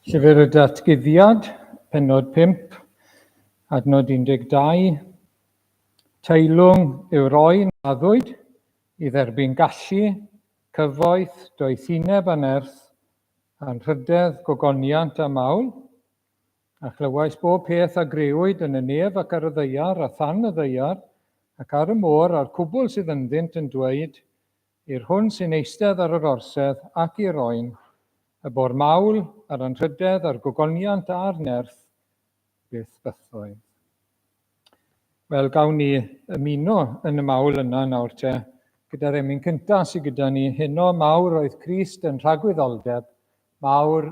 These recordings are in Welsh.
Llyfr y Datguddiad, penod 5, adnod 12. Teilwng yw roi naddwyd i dderbyn gallu, cyfoeth, doethineb a nerth, anrhydedd, gogoniant a mawl. A chlywais bob peth a grëwyd yn y nef ac ar y ddaear a than y ddaear, ac ar y môr a'r cwbl sydd ynddynt yn dweud, I'r hwn sy'n eistedd ar yr orsedd ac i'r oen, y bor mawl, a'r anrhydedd, a'r gogoniant, a'r nerth, beth bythoedd. Wel, gawn ni ymuno yn y mawl yna nawr te, gyda'r emyn cyntaf sydd gyda ni, heno mawr oedd Crist yn rhagwyddoldeb mawr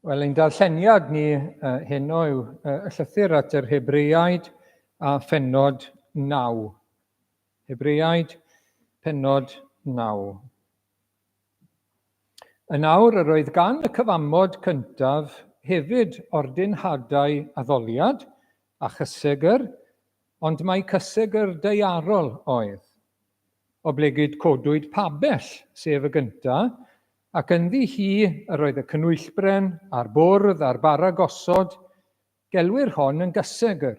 Wel, ein darlleniad ni uh, heno yw uh, y llythyr at yr Hebreiaid a phenod 9. Hebreiaid, penod 9. Yn awr, yr oedd gan y cyfamod cyntaf hefyd ordinhadau addoliad a chysegr, ond mae cysegr deiarol oedd. Oblegid codwyd pabell, sef y gynta, ac ynddi hi yr oedd y cnwyllbren, a'r bwrdd, a'r bara gosod, gelwir hon yn gysegr.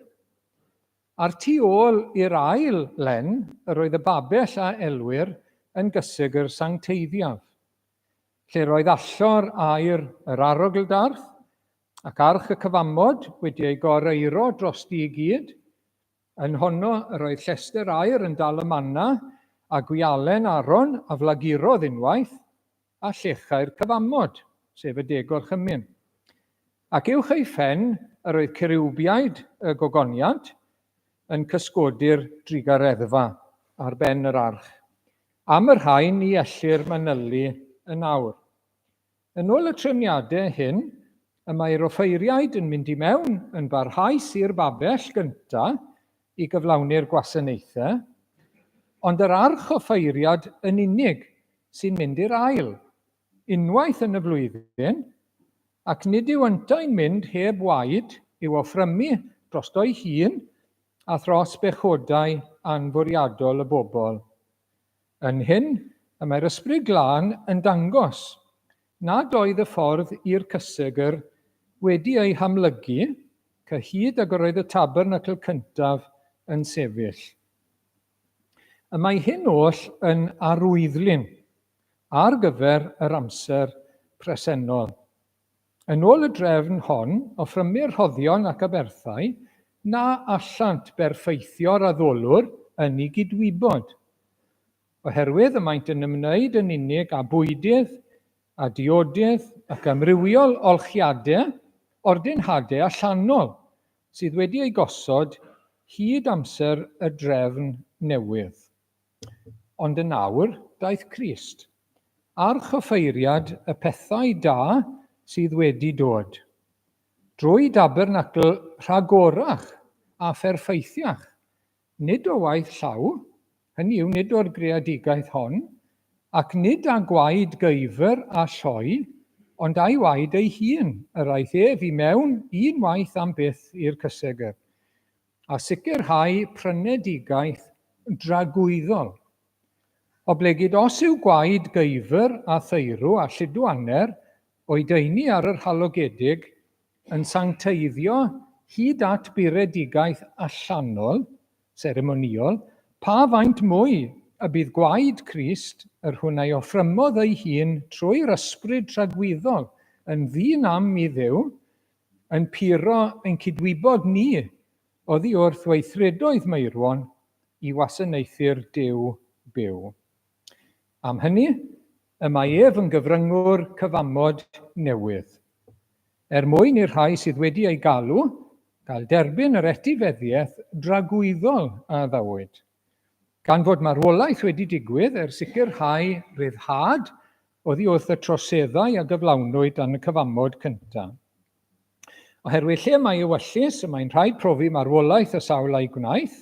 A'r tu ôl i'r ail len yr oedd y babell a elwir yn gysegr sancteiddiaf, lle'r oedd allor aer yr arogl-darth, ac arch y cyfamod wedi ei gor-eiro drosti i gyd, Yn honno yr oedd llestr aer yn dal y manna, a gwialen Aaron a flagurodd unwaith, a llechai'r cyfamod, sef y degol chymyn. Ac uwch ei phen yr oedd ceriwbiaid y gogoniant yn cysgodi'r drugareddfa ar ben yr arch. Am y rhain y ellir manylu yn awr. Yn ôl y trefniadau hyn, y mae'r offeiriaid yn mynd i mewn yn barhaus i'r babell gyntaf i gyflawni'r gwasanaethau, ond yr archoffeiriad yn unig sy'n mynd i'r ail, unwaith yn y flwyddyn, ac nid yw yntau'n mynd heb waed i'w offrymu drosto'i hun a thros bechodau anfwriadol y bobl. Yn hyn, y mae'r Ysbryd Glân yn dangos nad oedd y ffordd i'r cysegr wedi ei hamlygu cyhyd ag yr oedd y tabernacl cyntaf yn sefyll. Y mae hyn oll yn arwyddlun ar gyfer yr amser presennol. Yn ôl y drefn hon, offrymir rhoddion ac aberthau na allant berffeithio'r addolwr yn ei gydwybod, oherwydd y maent yn ymwneud yn unig â bwydydd, â diodydd ac amrywiol olchiadau, ordinhadau allanol, sydd wedi eu gosod hyd amser y drefn newydd. Ond yn awr, daeth Crist. Ar chyfeiriad y pethau da sydd wedi dod. Drwy dabernacl rhagorach a pherffeithiach, nid o waith llaw, hynny yw, nid o'r greadigaeth hon, ac nid â gwaed gyfr a lloi, ond a'i waed ei hun, yr aeth ef i mewn un waith am byth i'r cysegr. a sicrhau prynedigaeth dragwyddol. Oblegid os yw gwaed geifr a theirw a llidwaner o'i daenu ar yr halogedig yn sancteiddio hyd at buredigaeth allanol, seremonïol, pa faint mwy y bydd gwaed Crist, yr hwn a'i offrymodd ei hun trwy'r ysbryd tragwyddol, yn ddyn am i Dduw, Yn puro ein cydwybod ni oddi wrth weithredoedd Meirwon i wasanaethu'r Duw byw. Am hynny, y mae ef yn gyfryngwr cyfamod newydd. Er mwyn i'r rhai sydd wedi ei galw gael derbyn yr etifeddiaeth dragwyddol a addawyd, Gan fod marwolaeth wedi digwydd er sicrhau rhyddhad oddi wrth y troseddau a gyflawnwyd dan y cyfamod cyntaf. Oherwydd lle mae ewyllys, y mae'n rhaid profi marwolaeth y sawl a'i gwnaeth,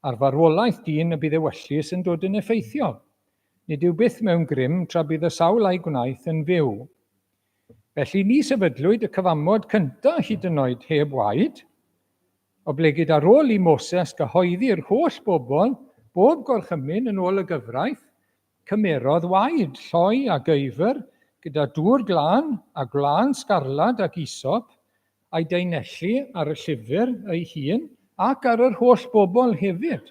ar farwolaeth dyn y bydd ewyllys yn dod yn effeithiol. Nid yw byth mewn grym tra bydd y sawl a'i gwnaeth yn fyw. Felly, ni sefydlwyd y cyfamod cyntaf hyd yn oed heb waed, Oblegid ar ôl i Moses gyhoeddi'r holl bobl, bob gorchymyn yn ôl y gyfraith, cymerodd waed, lloi a geufr, gyda dŵr glân, a gwlân sgarlad ac isop, a'i daenelli ar y llyfr ei hun ac ar yr holl bobl hefyd,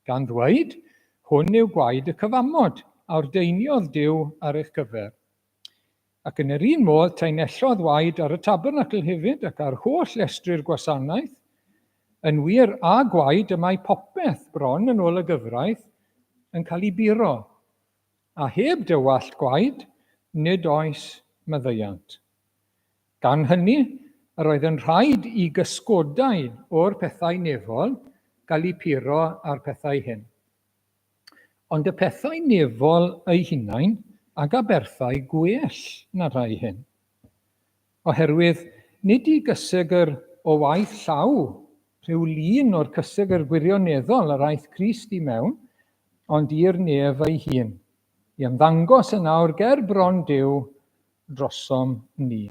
gan ddweud, Hwn yw gwaed y cyfamod, a ordeiniodd Duw ar eich cyfer. Ac yn yr un modd, tanellodd waed ar y tabernacl hefyd, ac ar holl lestri'r gwasanaeth. Yn wir, a gwaed y mae popeth, bron yn ôl y gyfraith, yn cael ei buro, a heb dywallt gwaed nid oes maddeuant. Gan hynny, yr oedd yn rhaid i gysgodau o'r pethau nefol gael eu puro â'r pethau hyn. Ond y pethau nefol eu hunain ag aberthau gwell na rhai hyn. Oherwydd nid i gysegr o waith llaw rhyw lun o'r cysegr gwirioneddol yr aeth Crist i mewn, ond i'r nef ei hun, i ymddangos yn awr ger bron Duw drosom ni.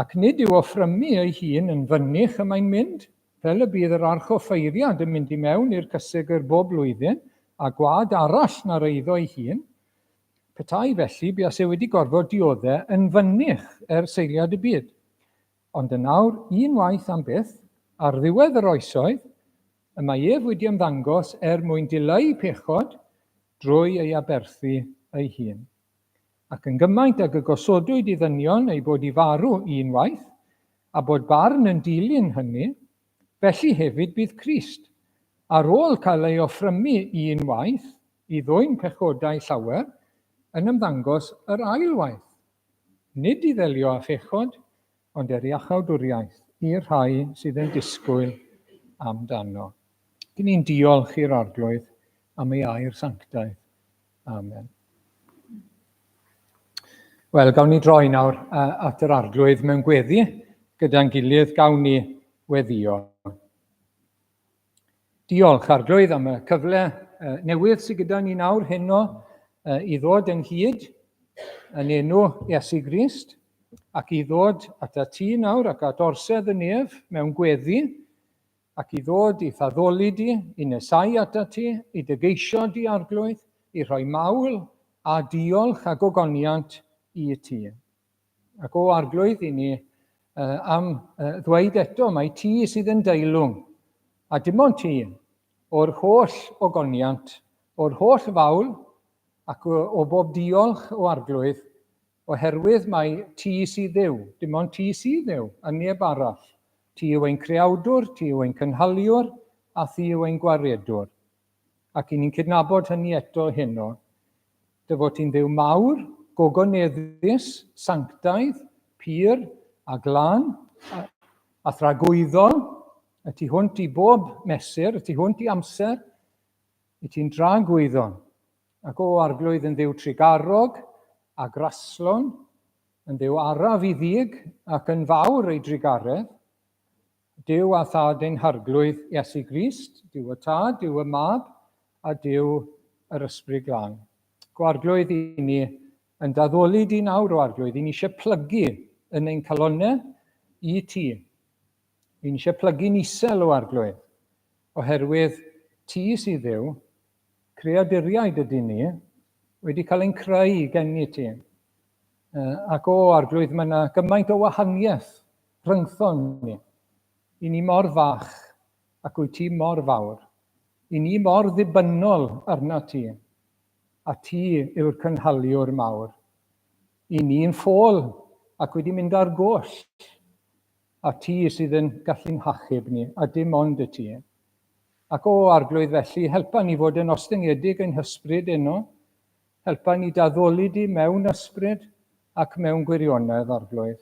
Ac nid yw offrymu ei hun yn fynych y mae'n mynd, fel y bydd yr archoffeiriad yn mynd i mewn i'r cysegr bob blwyddyn, â gwad arall na'r eiddo ei hun. Petai felly, buase wedi gorfod diodde yn fynych ers seiliad y byd. Ond yn awr, unwaith am byth, ar ddiwedd yr oesoedd, y mae ef wedi ymddangos er mwyn dileu pechod drwy ei aberthu ei hun. Ac yn gymaint ag y gosodwyd i ddynion eu bod i farw un waith, a bod barn yn dilyn hynny, felly hefyd bydd Crist, ar ôl cael ei offrymu un waith i ddwyn pechodau llawer, yn ymddangos yr ail waith, nid i ddelio â phechod, ond er iachawdwriaeth i'r rhai sydd yn disgwyl amdano. Dŷn ni'n diolch i'r Arglwydd am ei air sanctaidd. Amen. Wel, gawn ni droi nawr at yr arglwydd mewn gweddi gyda'n gilydd gawn ni weddio. Diolch arglwydd am y cyfle newydd sydd gyda ni nawr heno i ddod ynghyd yn enw Iesu Grist ac i ddod at y tŷ nawr ac at orsedd y nef mewn gweddi Ac i ddod i'th addoli di, i nesáu atat ti, i dy geisio di, Arglwydd, i rhoi mawl, a diolch, a gogoniant i ti. Ac o, Arglwydd, i ni am ddweud eto, mae ti sydd yn deilwng, a dim ond ti, o'r holl ogoniant, o'r holl fawl, ac o bob diolch o Arglwydd, Oherwydd mai Ti sydd Dduw, dim ond Ti sydd Dduw, a neb arall. Ti yw ein Creawdwr, Ti yw ein Cynhaliwr, a Thi yw ein Gwaredwr. Ac i ni'n cydnabod hynny eto heno, Dy fod Ti'n Dduw mawr, gogoneddus, sanctaidd, pur, a glân, a, a thragwyddol, y tu hwnt i bob mesur, y tu hwnt i amser, i Ti'n dragwyddon. Ac o arglwydd yn dduw trugarog, a graslon, yn dduw araf i ddig, ac yn fawr ei drugaredd, Duw a Thad ein harglwydd, Iesu Grist, Duw y Tad, Duw y Mab, a Duw yr Ysbryd Glân. Go arglwydd i ni yn daddoli di nawr o arglwydd, i ni eisiau plygu yn ein calonau i ti. I ni eisiau plygu'n isel o arglwydd, oherwydd ti sydd ddew, Creaduriaid ydyn ni, wedi cael ein creu gen i ti. Ac o, Arglwydd, mae yna gymaint o wahaniaeth rhyngthon ni. I ni mor fach, ac wyt ti mor fawr. I ni mor ddibynnol arna ti, a ti yw'r cynhaliwr mawr. I ni'n ffôl ac wedi mynd ar goll. a ti sydd yn gallu'n hachub ni, a dim ond y ti. Ac, o Arglwydd, felly, helpa ni fod yn ostyngedig ein hysbryd eno, helpa ni daddoli di mewn ysbryd ac mewn gwirionedd, Arglwydd.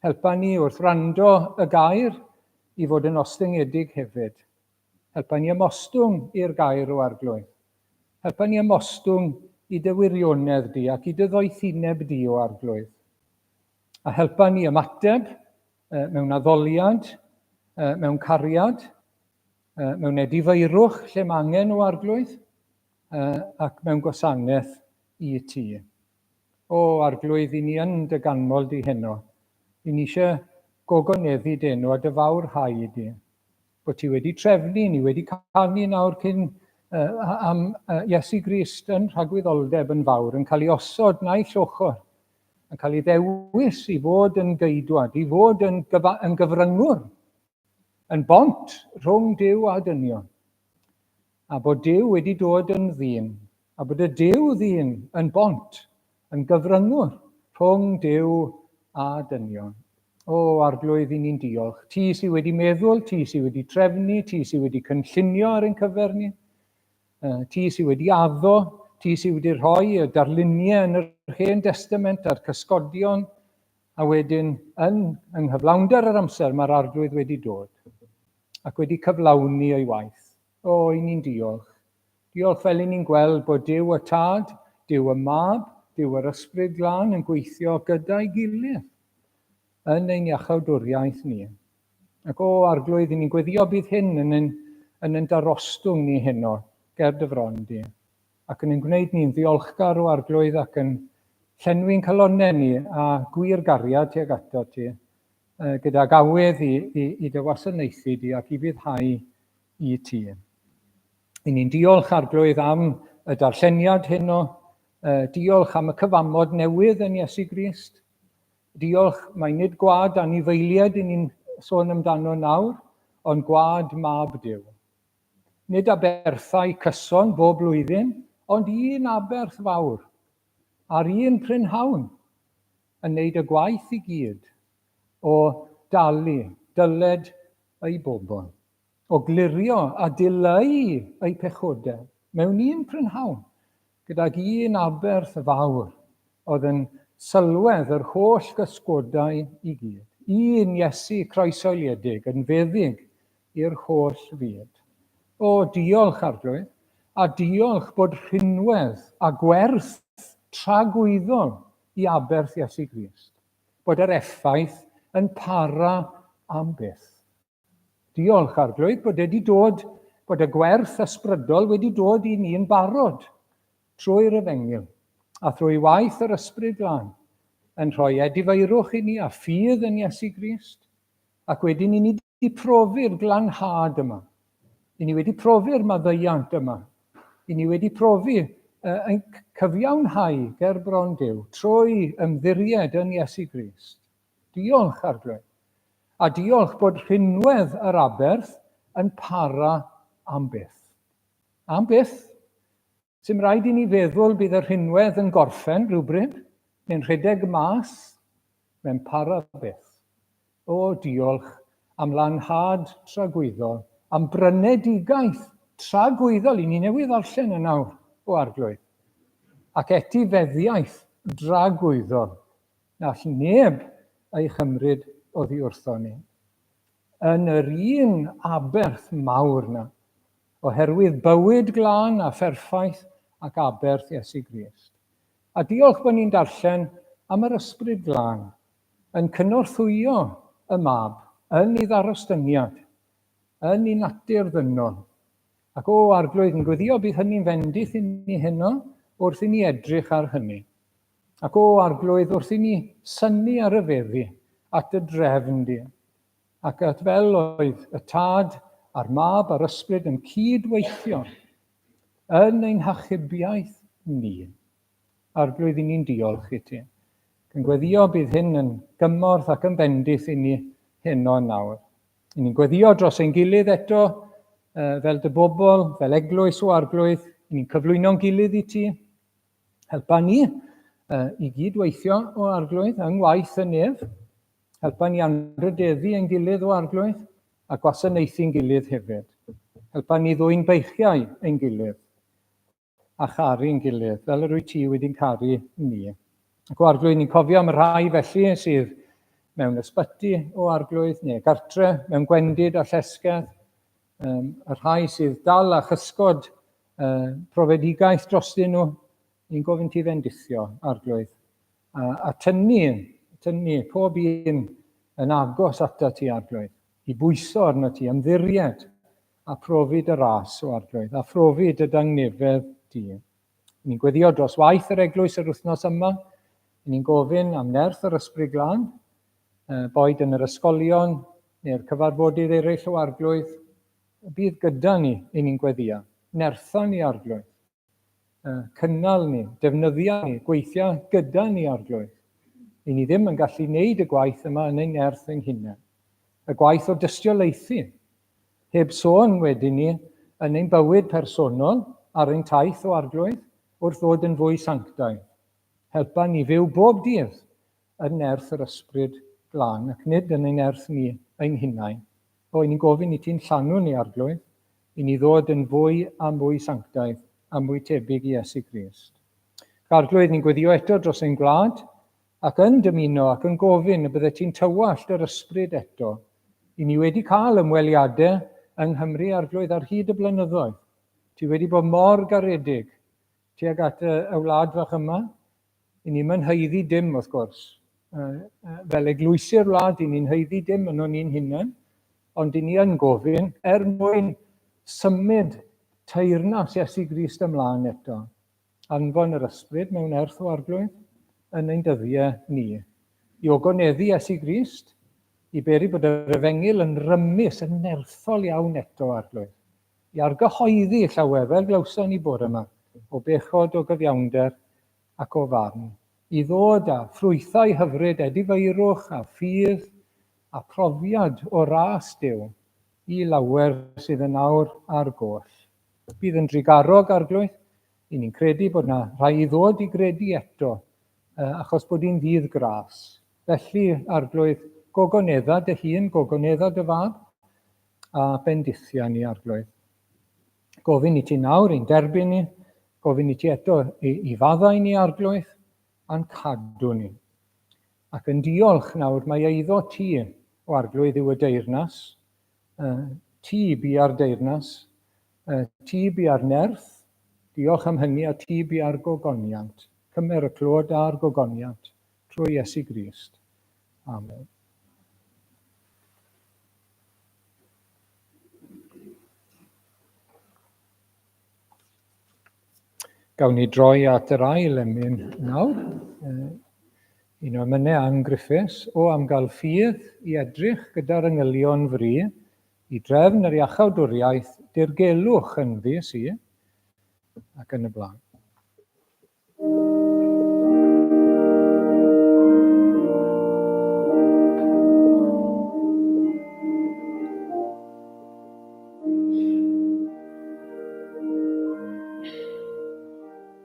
Helpa ni wrth rando y gair i fod yn ostyngedig hefyd. Helpa ni ymostwng i'r gair o Arglwydd. Helpa ni ymostwng i dy wirionedd di ac i dy ddoethineb di o Arglwydd. a helpa ni ymateb mewn addoliad, mewn cariad, mewn edifeirwch lle mae angen o arglwydd ac mewn gwasanaeth i ti. O arglwydd, i ni yn dy ganmol di heno. I ni eisiau gogoneddu dy enw a dy fawr hau i di. Bod ti wedi trefnu, ni wedi canu nawr cyn uh, am uh, Iesu Grist yn rhagwyddoldeb yn fawr, yn cael ei osod na'i llochor yn cael ei ddewis i fod yn geidwad, i fod yn, gyfa, yn gyfryngwr, yn bont rhwng Dyw a dynion, a bod Dyw wedi dod yn ddyn, a bod y Dyw ddyn yn bont, yn gyfryngwr rhwng Dyw a dynion. O, arglwydd, i ni'n diolch. Ti sydd wedi meddwl, ti sydd wedi trefnu, ti sydd wedi cynllunio ar ein cyfer ni. Ti sydd wedi addo, ti sydd wedi rhoi y darluniau yn yr Hen Destament a'r cysgodion, a wedyn yn yng nghyflawnder yr amser mae'r Arglwydd wedi dod ac wedi cyflawni ei waith. O, i ni'n diolch. Diolch fel i ni'n gweld bod Duw y Tad, Duw y Mab, Duw yr Ysbryd Glân yn gweithio gyda'i gilydd yn ein iachawdwriaeth ni. Ac o Arglwydd, i ni'n gweddio bydd hyn yn yn, yn yn darostwng ni heno, ger dy fron di, ac yn yn gwneud ni'n ddiolchgar o Arglwydd ac yn llenwi'n calonau ni a gwir gariad tuag ato ti, gydag awydd i, i, i dy wasanaethu di ac i fyddhau i ti. I ni'n diolch Arglwydd am y darlleniad heno, diolch am y cyfamod newydd yn Iesu Grist, Diolch. Mae nid gwlad anifeiliaid yn ni'n sôn amdano nawr, ond gwlad mab Duw. Nid aberthau cyson bob blwyddyn, ond un aberth fawr, a'r un prynhawn, yn wneud y gwaith i gyd o dalu dyled ei bobl. O glirio a dileu eu pechodau mewn un prynhawn gydag un aberth fawr oedd yn sylwedd yr holl gysgodau i gyd, un Iesu croeshoeliedig yn feddyg i'r holl fyd. O, diolch, Arglwydd, a diolch bod rhinwedd a gwerth tragwyddol i aberth Iesu Grist, bod yr effaith yn para am byth. Diolch, Arglwydd, bod wedi dod, bod y gwerth ysbrydol wedi dod i ni yn barod trwy'r efengyl a thrwy waith yr ysbryd glân, yn rhoi edifeirwch i ni a ffydd yn Iesu Grist, ac wedyn i ni wedi profi'r glanhad yma. I ni wedi profi'r maddeuant yma. I ni wedi profi yn cyfiawnhau ger bron Dyw trwy ymddiried yn Iesu Grist. Diolch, Arglwydd. A diolch bod rhinwedd yr aberth yn para am byth. Am byth. Sy'n rhaid i ni feddwl bydd y rhinwedd yn gorffen rhywbryd, neu'n rhedeg mas, mae'n para byth. O, diolch am lanhad tragwyddol, am brynedigaeth tragwyddol i ni newydd ddarllen yn awr, o Arglwydd, ac etifeddiaeth dragwyddol Nall neb ei chymryd oddi wrthon ni. Yn yr un aberth mawr 'na, oherwydd bywyd glân a pherffaith ac aberth Iesu Grist. A diolch bo' ni'n darllen am yr Ysbryd Glân yn cynorthwyo y Mab yn ei ddarostyniad, yn ei natur ddynol. Ac o, Arglwydd, yn gweddio bydd hynny'n fendith i ni heno wrth i ni edrych ar hynny. Ac o Arglwydd wrth i ni synnu ar y feddi at dy drefn di, ac at fel oedd y Tad a'r Mab a'r Ysbryd yn cyd-weithio yn ein hachubiaeth ni. Arglwydd, i ni'n diolch i ti. Yn gweddio bydd hyn yn gymorth ac yn bendith i ni heno yn nawr. I ni'n gweddio dros ein gilydd eto, fel dy bobl, fel eglwys o Arglwydd, i ni'n cyflwyno'n gilydd i ti, Helpa ni uh, i gyd weithio o arglwydd yng ngwaith y nef. Helpa ni anrhydeddu ein gilydd o arglwydd a gwasanaethu'n gilydd hefyd. Helpa ni ddwy'n beichiau ein gilydd a charu'n gilydd, fel yr wyt ti wedi'n caru ni. Ac o arglwydd, ni'n cofio am y rhai felly sydd mewn ysbyty o arglwydd neu gartre, mewn gwendid a llesgedd, um, y rhai sydd dal a chysgod uh, profedigaeth drostyn nhw, ni'n gofyn ti fendithio, arglwydd, a, a tynnu, tynnu pob un yn agos ata ti, arglwydd, i bwyso arno ti, ymddiried, a profi dy ras o arglwydd, a phrofi dy dangnefedd di. Ni'n gweddio dros waith yr eglwys yr wythnos yma. Ni'n gofyn am nerth yr ysbryd glân, boed yn yr ysgolion neu'r cyfarfodydd eraill o arglwydd, bydd gyda ni i ni'n gweddio. Nertha ni arglwydd. Cynnal ni, defnyddia ni, gweithio gyda ni arglwydd. I ni ddim yn gallu wneud y gwaith yma yn ein nerth ein hunain. Y gwaith o dystiolaethu Heb sôn wedyn ni yn ein bywyd personol ar ein taith o Arglwydd wrth ddod yn fwy sanctaidd. Helpa ni fyw bob dydd yn nerth yr Ysbryd Glân ac nid yn ein nerth ni ein hunain. O, i ni'n gofyn i ti'n llanw ni, Arglwydd, i ni ddod yn fwy a mwy sanctaidd a mwy tebyg i Iesu Grist. Ac Arglwydd, ni'n gweddio eto dros ein gwlad, ac yn dymuno ac yn gofyn y byddet ti'n tywallt yr ysbryd eto. I ni wedi cael ymweliadau yng Nghymru Arglwydd ar hyd y blynyddoedd. Ti wedi bod mor garedig tuag at y, y wlad fach yma. I ni'm yn haeddu dim, wrth gwrs. Uh, uh, fel eglwysi'r wlad, i ni'n haeddu dim yn o'n ni'n hunain, ond i ni yn gofyn er mwyn symud teyrnas Iesu Grist ymlaen eto. anfon yr ysbryd mewn erth o arglwydd yn ein dyddiau ni, i ogoneddu Iesu Grist, i beri bod yr efengyl yn rymus, yn nerthol iawn eto, arglwydd, i argyhoeddi llawer fel glawson ni bore yma, o bechod, o gyfiawnder ac o farn, i ddod â ffrwythau hyfryd, edifeirwch a ffydd a phrofiad o ras Duw i lawer sydd yn awr ar goll. Bydd yn drugarog, Arglwydd. Y'n ni'n credu bod yna rhai i ddod i gredu eto, achos bod hi'n ddydd gras. Felly, Arglwydd, gogonedda dy hun, gogonedda dy fab, a bendithia ni, Arglwydd. Gofyn i ti nawr i'n derbyn ni, gofyn i ti eto i, i faddau ni, Arglwydd, a'n cadw ni. Ac yn diolch nawr mae eiddo ti, o Arglwydd, yw y deyrnas, ti bi ar deyrnas, ti bi ar nerth, diolch am hynny a ti bi ar gogoniant. Cymer y clod a'r gogoniant trwy Iesu Grist. Amen. Gawn ni droi at yr ail emyn nawr. Yn amynedd Ann Griffiths o am gael ffydd i edrych gyda'r engylion fry i drefn yr iachawdwriaeth dirgelwch ynddi si, ac yn y blaen.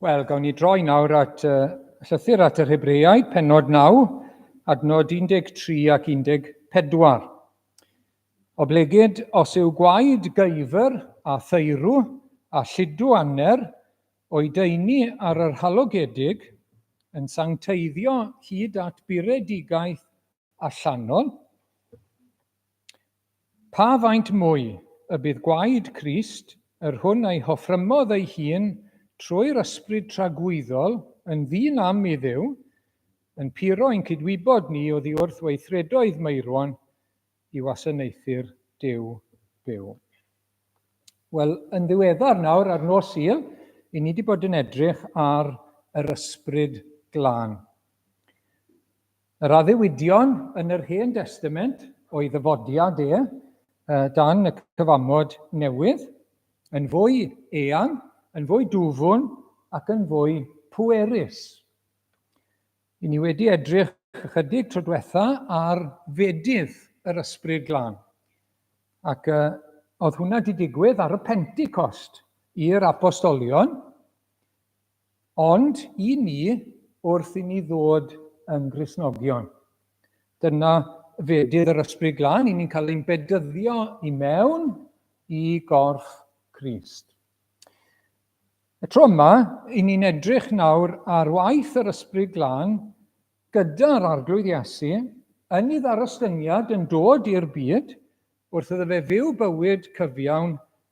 Wel, gawn ni droi nawr at uh, llythyr at yr Hebreaid, penod 9, adnod 13 ac 14. Oblegid os yw gwaed gyfer a theirw a llidw anner o'i deini ar yr halogedig yn sancteiddio hyd at buredigaeth allanol, Pa faint mwy y bydd gwaed Crist, yr hwn a'i hoffrymodd ei hun trwy'r ysbryd tragwyddol yn ddyn am i Dduw, yn puro i'n cydwybod ni oddi wrth weithredoedd meirwon i wasanaethu'r Duw byw. Wel, yn ddiweddar nawr, ar nos Sul, i ni wedi bod yn edrych ar yr ysbryd glân. Yr addewidion yn yr Hen Destament o'i ddyfodiad e dan y Cyfamod Newydd yn fwy eang, yn fwy dwfwn ac yn fwy pwerus. I ni wedi edrych ychydig tro diwetha ar fedydd yr Ysbryd Glân. Ac uh, oedd hwnna wedi digwydd ar y Pentecost i'r apostolion, Ond i ni, wrth i ni ddod yn Gristnogion, dyna fedydd yr Ysbryd Glân, i ni'n cael ein bedyddio i mewn i gorff Crist. Y tro yma, i ni'n edrych nawr ar waith yr Ysbryd Glân gyda'r Arglwydd Iesu yn ei ddarostyngiad yn dod i'r byd wrth iddo fe fyw bywyd cyfiawn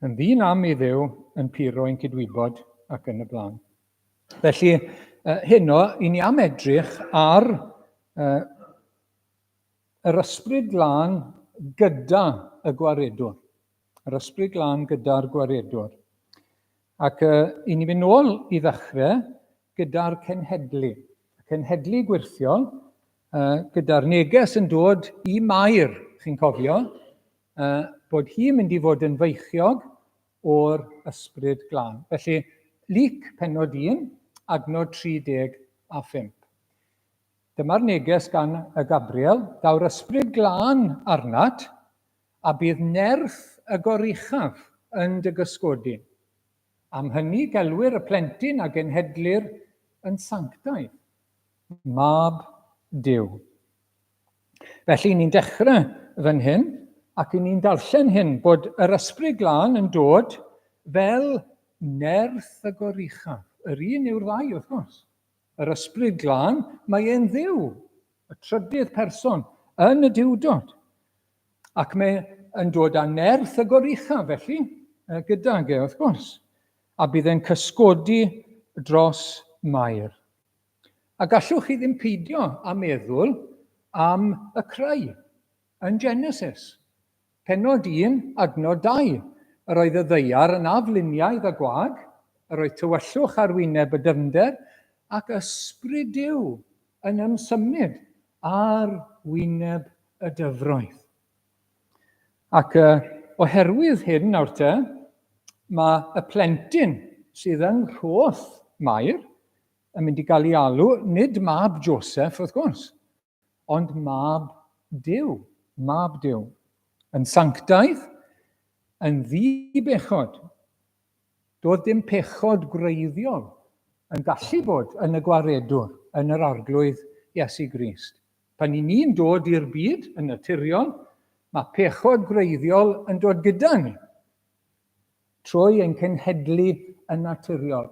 Yn ddyn am i ddew, yn pur o'n cydwybod ac yn y blaen. Felly, uh, heno, i ni am edrych ar uh, yr ysbryd glân gyda y gwaredwr. Yr ysbryd glân gyda'r gwaredwr. Ac uh, i ni fynd nôl i ddechrau gyda'r cenhedlu. Cenhedlu gwirthiol, uh, gyda'r neges yn dod i Mair, chi'n cofio, uh, bod hi'n mynd i fod yn feichiog o'r ysbryd glân. Felly, Luc penod 1, adnod 30 a 5. Dyma'r neges gan y Gabriel, daw'r ysbryd glân arnat, a bydd nerth y goruchaf yn dy gysgodi. Am hynny gelwir y plentyn a genhedlir yn sanctaidd, mab Dyw. Felly, ni'n dechrau fan hyn, ac ni'n darllen hyn, bod yr ysbryd glân yn dod fel nerth y goruchaf. Yr un yw'r ddau, wrth gwrs. Yr ysbryd glân, mae e'n ddiw, y trydydd person yn y diwdod. Ac mae yn dod â nerth y goruchaf, felly, gydag e, wrth gwrs. A bydd e'n cysgodi dros Mair. A gallwch chi ddim peidio â meddwl am y crai. Yn Genesis, pennod un, adnod dau, yr oedd y ddaear yn afluniaidd a gwag, yr oedd tywyllwch ar wyneb y dyfnder, ac Ysbryd Duw yn ymsymud ar wyneb y dyfroedd. Ac uh, oherwydd hyn nawr te, mae y plentyn sydd yng nghroth Mair yn mynd i gael ei alw, nid mab Joseph, wrth gwrs, ond mab Dyw, mab Dyw, yn sanctaidd, yn ddi-bechod. Doedd dim pechod gwreiddiol yn gallu bod yn y gwaredwr, yn yr arglwydd Iesu Grist. Pan i ni'n dod i'r byd yn naturiol, mae pechod gwreiddiol yn dod gyda ni. Trwy ein cenhedlu yn naturiol.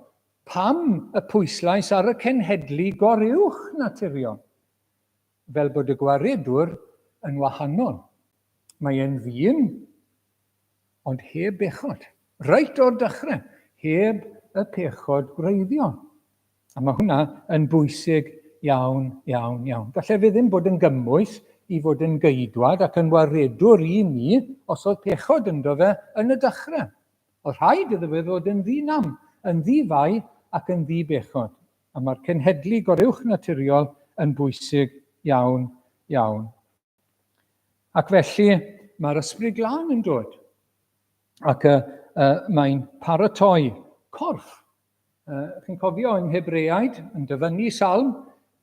Pam y pwyslais ar y cenhedlu goruwch naturiol? Fel bod y gwaredwr yn wahanol. Mae e'n ddyn, ond heb bechod. Reit o'r dechrau, heb y pechod gwreiddiol. A mae hwnna yn bwysig iawn, iawn, iawn. Gallai fe ddim bod yn gymwys i fod yn geidwad ac yn waredwr i ni os oedd pechod ynddo fe yn y dechrau. Oedd rhaid iddo fe fod yn ddi-nam, yn ddi-fai ac yn ddi-bechod. A mae'r cenhedlu goruwchnaturiol yn bwysig iawn, iawn. Ac felly, mae'r ysbryd glân yn dod. Ac uh, uh, mae'n paratoi corff. Uh, chi'n cofio yn Hebreaid, yn dyfynnu salm,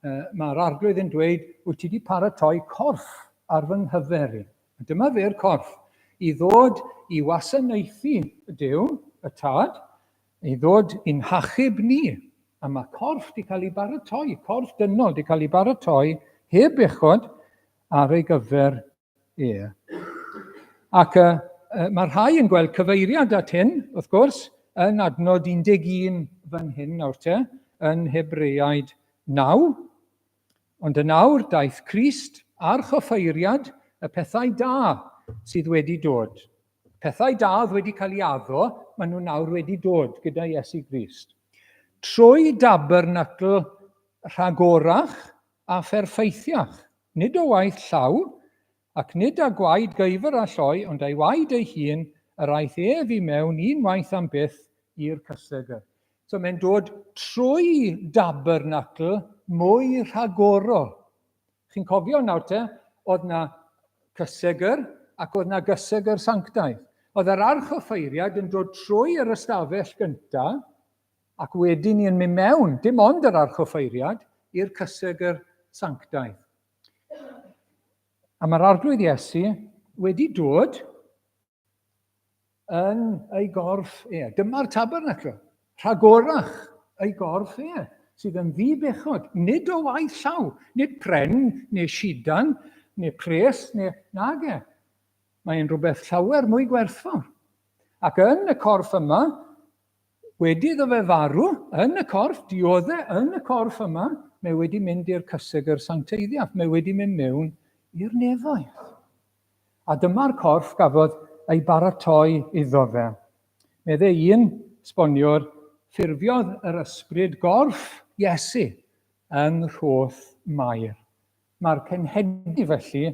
uh, mae'r arglwydd yn dweud, wyt ti wedi paratoi corff ar fy nghyfer i. Dyma fe'r corff i ddod i wasanaethu y Dyw, y Tad, I ddod i'n hachub ni. A mae corff 'di cael ei baratoi, corff dynol 'di cael ei baratoi heb uchod ar ei gyfer e. Ac y, y, mae rhai yn gweld cyfeiriad at hyn, wrth gwrs, yn adnod 11 fan hyn nawr te, yn Hebreaid 9, Ond yn awr daeth Crist a'r choffeiriad y pethau da sydd wedi dod. Pethau da oedd wedi cael ei addo, maen nhw nawr wedi dod gyda Iesu Grist. Trwy dabernacl rhagorach a pherffeithiach, nid o waith llaw, Ac nid â gwaed gyfr a lloi ond a'i waed ei hun yr aeth ef i mewn un waith am byth i'r cysegr. So mae'n dod trwy dabernacl mwy rhagorol. Chi'n cofio nawr te, oedd na cysegr ac oedd na gysegr sanctaidd. Oedd yr arch offeiriad yn dod trwy yr ystafell gynta ac wedyn ni yn mynd mewn, dim ond yr arch offeiriad, i'r cysegr sanctaidd. A mae'r arglwydd Iesu wedi dod yn ei gorff e. Dyma'r tabernacl, rhagorach ei gorff e, sydd yn ddi-bechod, nid o waith llaw, nid pren, neu sidan, neu pres, neu nag e. Mae'n rhywbeth llawer mwy gwerthfawr. Ac yn y corff yma, Wedi iddo fe farw, yn y corff, diodde yn y corff yma, mae wedi mynd i'r cysegr sancteiddiaf, mae wedi mynd mewn i'r nefoedd. A dyma'r corff gafodd ei baratoi iddo fe. Medde un sboniwr, ffurfiodd yr ysbryd gorff Iesu yng nghroth Mair. Mae'r cenhedlu felly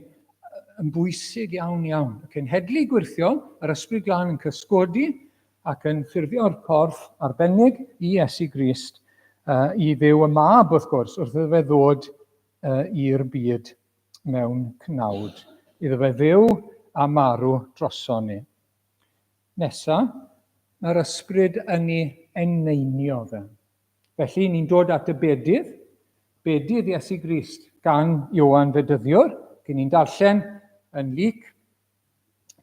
yn bwysig iawn iawn. Y cenhedlu gwirthiol, yr ysbryd glân yn cysgodi ac yn ffurfio'r corff arbennig i Iesu Grist, uh, i ddew y mab wrth gwrs, wrth iddo fe ddod uh, i'r byd mewn cnawd. Iddo fe ddew a marw droson ni. Nesa, mae'r ysbryd yn ei eneinio fe. Felly, ni'n dod at y bedydd, bedydd Iesu Grist, gan Ioan fe dyddiwr, cyn ni'n darllen yn Luc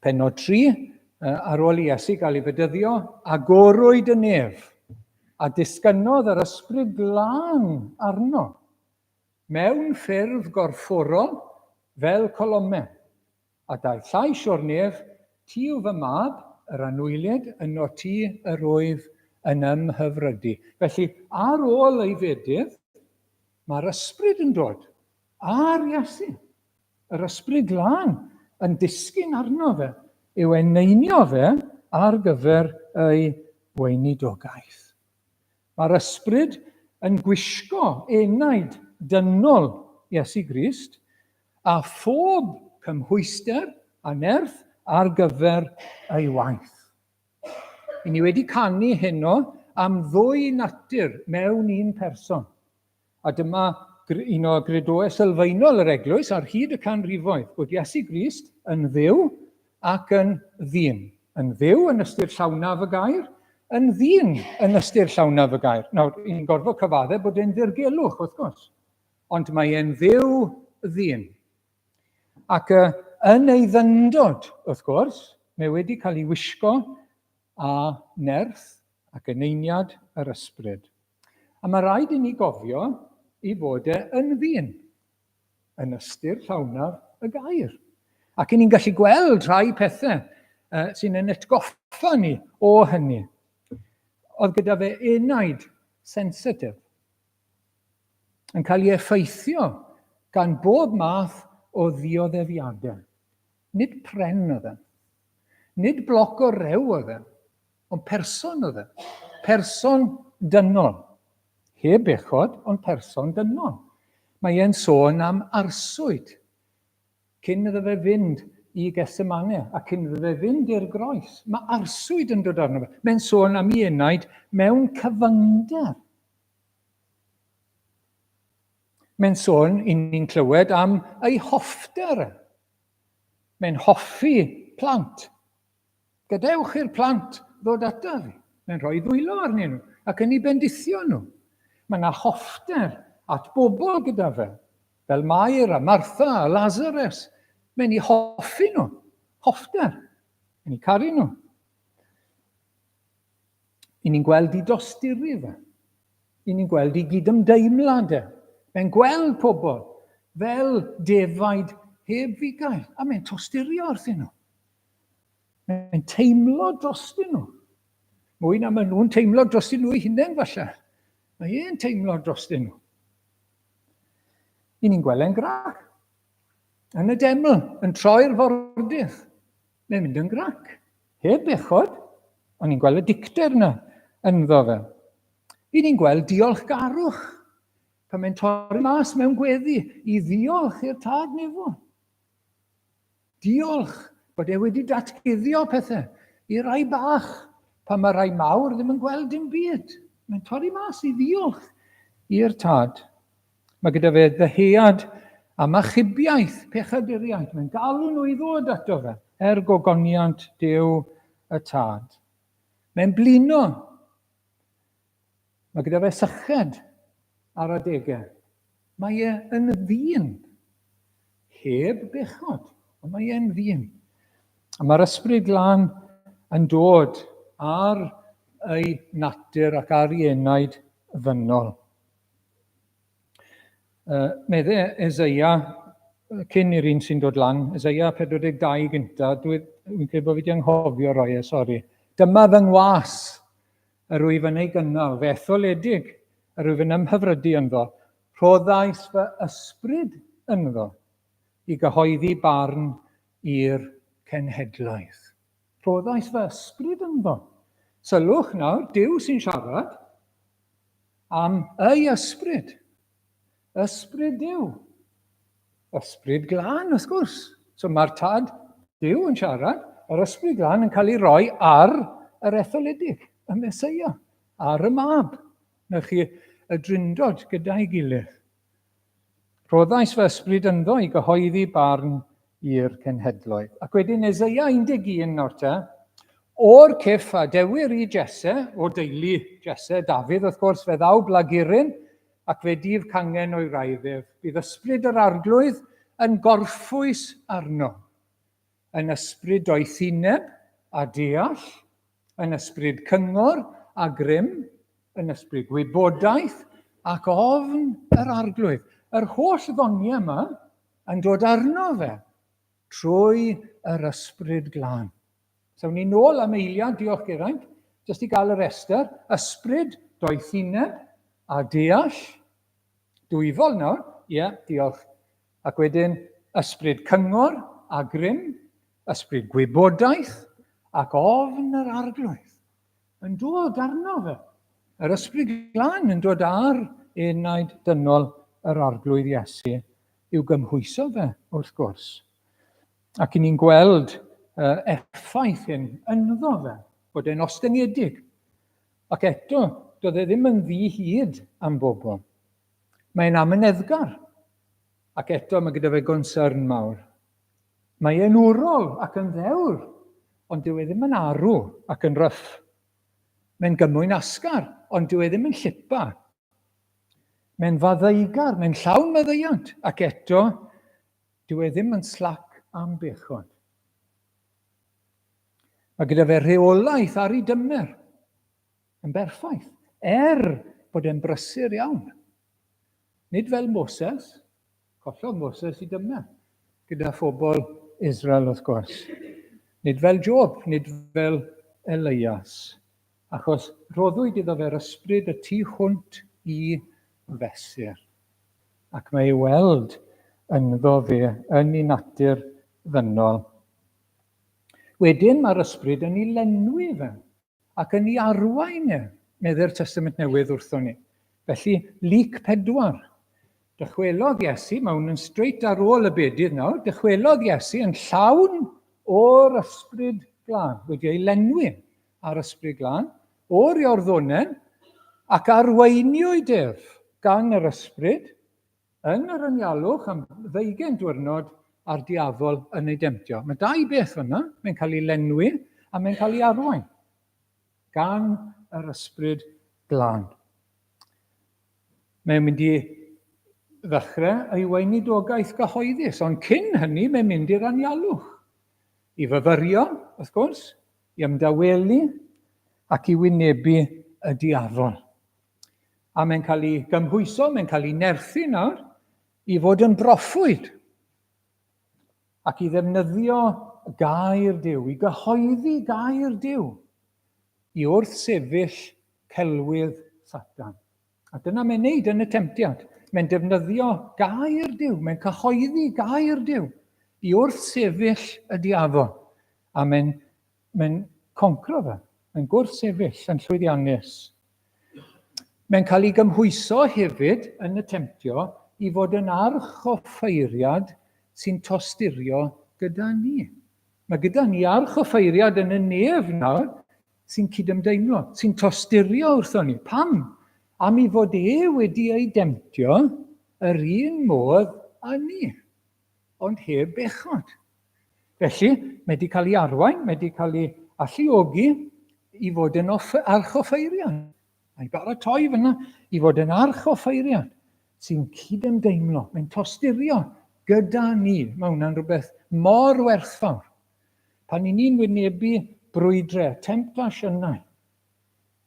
penod 3, ar ôl i Iesu gael ei fedyddio, agorwyd y nef, a disgynnodd yr ysbryd glân arno, mewn ffurf gorfforol fel colomen. A daeth llais o'r nef, Ti yw fy mab, yr anwylied yno ti yr oedd yn ym mhyfrydu. Felly, ar ôl ei fedydd, mae'r ysbryd yn dod ar Iesu. Yr ysbryd glân yn disgyn arno fe, i'w eneinio fe ar gyfer ei weinidogaeth. Mae'r ysbryd yn gwisgo enaid dynol Iesu Grist a phob cymhwyster a nerth ar gyfer ei waith. I ni wedi canu heno am ddwy natur mewn un person, A dyma un o gredoau sylfaenol yr Eglwys ar hyd y canrifoedd, bod Iesu Grist yn Dduw ac yn ddyn. Yn Dduw yn ystyr llawnaf y gair, yn ddyn yn ystyr llawnaf y gair. Nawr, i'n gorfod cyfaddau bod e'n ddirgelwch, wrth gwrs, ond mae e'n dduw ddyn. Ac uh, yn ei ddyndod, wrth gwrs, mae wedi cael ei wisgo a nerth ac eneiniad yr ysbryd. A mae rhaid i ni gofio i fod e yn ddyn, yn ystyr llawnaf y gair. Ac i ni'n gallu gweld rhai pethau uh, sy'n yn etgoffa ni o hynny. Oedd gyda fe enaid sensitif yn cael ei effeithio gan bob math o ddioddefiadau. Nid pren oedd e'n. Nid bloc o rew oedd e'n. Ond person oedd e'n. Person dynol. Heb bechod, ond person dynol. Mae e'n sôn am arswyd cyn iddo fe fynd i Gethsemane a cyn iddo fe fynd i'r groes. Mae arswyd yn dod arno fe. Mae'n sôn am ei enaid mewn cyfyngder. Mae'n sôn, i ni'n clywed, am ei hoffter e. Mae'n hoffi plant. Gadewch i'r plant ddod ataf fi. Mae'n rhoi ddwylo arnyn nhw ac yn ei bendithio nhw. Mae yna hoffter at bobl gyda fe, fel Mair a Martha a Lazarus. Mae'n ei hoffi nhw. Hoffter. Mae'n ei caru nhw. I ni'n gweld i dosturi fe. I ni'n gweld i gydymdeimlad e. Mae'n gweld pobl fel defaid heb fugail, a mae'n tosturio wrth nhw. Mae'n teimlo dros nhw. Mwy na maen nhw'n teimlo dros nhw'i hunain falle. Mae e'n teimlo dros nhw. I ni'n gweld e'n grac. Yn y deml, yn troi'r fordydd. Mae'n mynd yn grac. Heb bechod, ond ni'n gweld y dicter yna ynddo fe. Ry'n ni'n gweld diolchgarwch pan mae'n torri mas mewn gweddi i ddiolch i'r tad nefo. Diolch bod e wedi datguddio pethau i rai bach pan mae rai mawr ddim yn gweld dim byd. Mae'n torri mas i ddiolch i'r tad. Mae gyda fe ddyhead am achubiaeth pechaduriaid. Mae'n galw nhw i ddod ato fe, er gogoniant Duw y Tad. Mae'n blino. Mae gyda fe syched ar adegau. Mae e yn ddyn, heb bechod, ond mae e'n ddyn. A mae'r ysbryd glân yn dod ar ei natur ac ar ei enaid ddynol. Uh, medde Ezeia, cyn i'r un sy'n dod lan, Ezeia 42 gynta, dwi'n dwi credu bod fi wedi anghofio roi e, sori. Dyma fy ngwas, yr wyf yn ei gynnal, fe etholedig, yr wyf yn ymhyfrydu ynddo. Rhoddais fy ysbryd ynddo i gyhoeddi barn i'r cenhedlaeth. Rhoddais fy ysbryd ynddo. Sylwch nawr, Dyw sy'n siarad, Am ei ysbryd. Ysbryd Duw. Ysbryd glân, wrth gwrs. So mae'r tad Duw yn siarad, yr ysbryd glân yn cael ei roi ar yr etholedig, y Mesoea, ar y mab. Na chi, y drindod gyda'i gilydd. Rhoddais fy ysbryd ynddo i gyhoeddi barn i'r cenhedloedd. Ac wedyn Eseia 11 nawr te. O'r cyff a dewir i Jesse, o deulu Jesse, Dafydd wrth gwrs, fe ddaw blaguryn, ac fe dif cangen o'i wraidd ef. Bydd ysbryd yr arglwydd yn gorffwys arno, yn ysbryd doethineb a deall, yn ysbryd cyngor a grym, yn ysbryd gwybodaeth ac ofn yr Arglwydd. Yr holl ddoniau yma yn dod arno fe trwy yr ysbryd glân. Sawn ni'n ôl am eiliad, diolch Geraint, jyst i gael yr estr, ysbryd, doethineb a deall. Dwyfol nawr, ie, yeah, diolch. Ac wedyn ysbryd cyngor a grym, Ysbryd gwybodaeth ac ofn yr Arglwydd yn dod arno fe. Yr Ysbryd Glân yn dod ar enaid dynol yr Arglwydd Iesu i'w gymhwyso fe, wrth gwrs. Ac i ni'n gweld uh, effaith hyn ynddo fe, bod e'n ostyngedig. Ac eto, doedd e ddim yn ddi hyd am bobl. Mae'n amyneddgar. Ac eto mae gyda fe gonsern mawr. Mae e'n wrol ac yn ddewr, ond dyw e ddim yn arw ac yn ryff. Mae'n gymwyn asgar, ond dyw e ddim yn llipa. Mae'n faddeugar, mae'n llawn maddeuant, ac eto, dyw e ddim yn slac am bechod. Mae gyda fe rheolaeth ar ei dymer yn berffaith, er bod e'n brysur iawn. Nid fel Moses, Collodd Moses i Dymna, gyda phobl Israel wrth gwrs. Nid fel Job, nid fel Elias, achos rhoddwyd iddo fe'r ysbryd y tu hwnt i fesur, ac mae ei weld ynddo fe yn ei natur ddynol. Wedyn mae'r ysbryd yn ei lenwi fe, Ac yn ei arwain e, medde'r Testament Newydd wrthon ni. Felly, Luc 4. Dychwelodd Iesu, mae hwn yn straight ar ôl y bedydd nawr, dychwelodd Iesu yn llawn o'r ysbryd glân, wedi ei lenwi ar ysbryd glân, o'r Iorddonen, ac arweiniwyd ef gan yr ysbryd Yn yr anialwch am ddeugain diwrnod a'r diafol yn ei demtio. Mae dau beth fanna, mae'n cael ei lenwi a mae'n cael ei arwain gan yr ysbryd glân. Mae'n mynd i ddechrau ei weinidogaeth gyhoeddus, ond cyn hynny mae'n mynd i'r anialwch. I fyfyrio, wrth gwrs, i ymdawelu ac i wynebu y diafol. A mae'n cael ei gymhwyso, mae'n cael ei nerthu nawr i fod yn broffwyd ac i ddefnyddio gair Dyw, i gyhoeddi gair Dyw, i wrth sefyll celwydd Satan. A dyna mae'n neud yn y temtiad. Mae'n defnyddio gair Dyw, mae'n cyhoeddi gair Dyw i wrth sefyll y diafol. A mae'n Mae'n concro fe. Mae'n gwrthsefyll yn llwyddiannus. Mae'n cael ei gymhwyso hefyd yn y temtio i fod yn arch o ffeiriad sy'n tosturio gyda ni. Mae gyda ni arch o ffeiriad yn y nef nawr sy'n cydymdeimlo, sy'n tosturio wrthon ni. Pam? Am i fod e wedi ei demtio yr un modd â ni. ond heb bechod. Felly, mae wedi cael ei arwain, mae wedi cael ei alluogi i fod yn off, archoffeiriad. Mae'n baratoi fyna i fod yn archoffeiriad sy'n cydymdeimlo, mae'n tosturio gyda ni. Mae hwnna'n rhywbeth mor werthfawr. Pan i ni'n wynebu brwydrau, temptasiynau,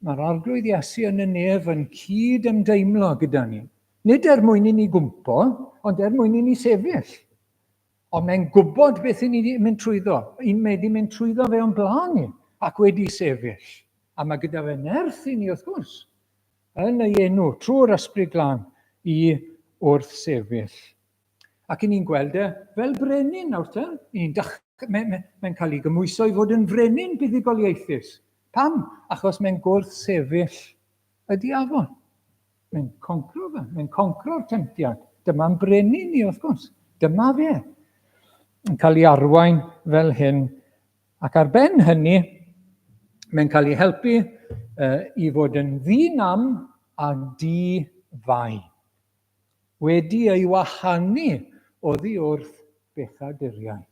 Mae'r Arglwydd Iesu yn y nef yn cyd ymdeimlo gyda ni. Nid er mwyn i ni gwmpo, ond er mwyn i ni sefyll. Ond mae'n gwybod beth i ni mynd trwyddo. I'n mae di mynd trwyddo fe o'n blaen ni ac wedi sefyll. A mae gyda fe nerth i ni, wrth gwrs, yn ei enw, trwy'r ysbryd glân, i wrth sefyll. Ac i ni'n gweld e fel brenin nawr te. I ni'n dach... Mae'n mae, mae cael ei gymwyso i fod yn frenin buddugoliaethus. Pam? Achos mae'n gwrth sefyll y diafon. Mae'n concro fe. Mae'n concro'r temtiad. Dyma'n brenin ni, wrth gwrs. Dyma fe. Yn cael ei arwain fel hyn. Ac ar ben hynny, mae'n cael ei helpu uh, i fod yn ddyn am a di fai. wedi ei wahanu oddi wrth bechaduriaid,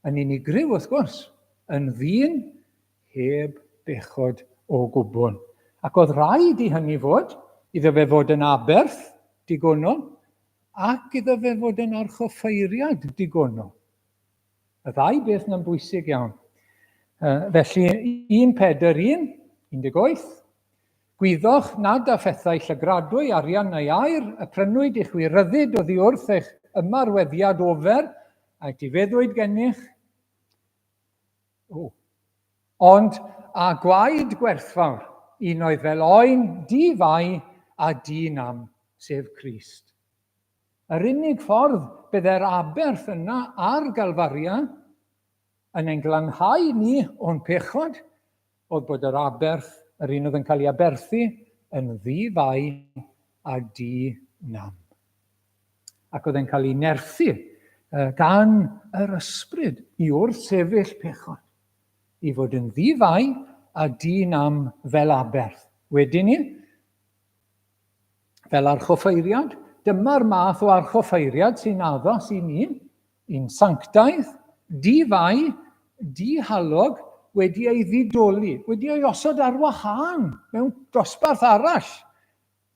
yn unigryw wrth gwrs, yn ddyn heb bechod o gwbl, ac oedd rhaid i hynny fod, iddo fe fod yn aberth digonol, ac iddo fe fod yn archoffeiriad digonol. Y ddau beth na'n bwysig iawn. Felly, 1 Pedr 1, 18, Gwyddoch nad â phethau llygradwy, arian neu air, y prynwyd i chwi ryddid oddi wrth eich ymarweddiad ofer, a etifeddwyd gennych, ond â gwaed gwerthfawr, un oedd fel oen, di-fai a di-nam, sef Crist. Yr unig ffordd byddai'r aberth yna ar Galfaria yn ein glanhau ni o'n pechod oedd bod yr aberth, yr un oedd yn cael ei aberthu, yn ddi-fai a di-nam. Ac oedd e'n cael ei nerthu gan yr ysbryd i wrth sefyll pechod, i fod yn ddi-fai a di-nam fel aberth. Wedyn ni, fel archoffeiriad, dyma'r math o archoffeiriad sy'n addas i ni, Yn sanctaidd, di-fai, di-halog, wedi ei ddidoli, wedi ei osod ar wahân mewn dosbarth arall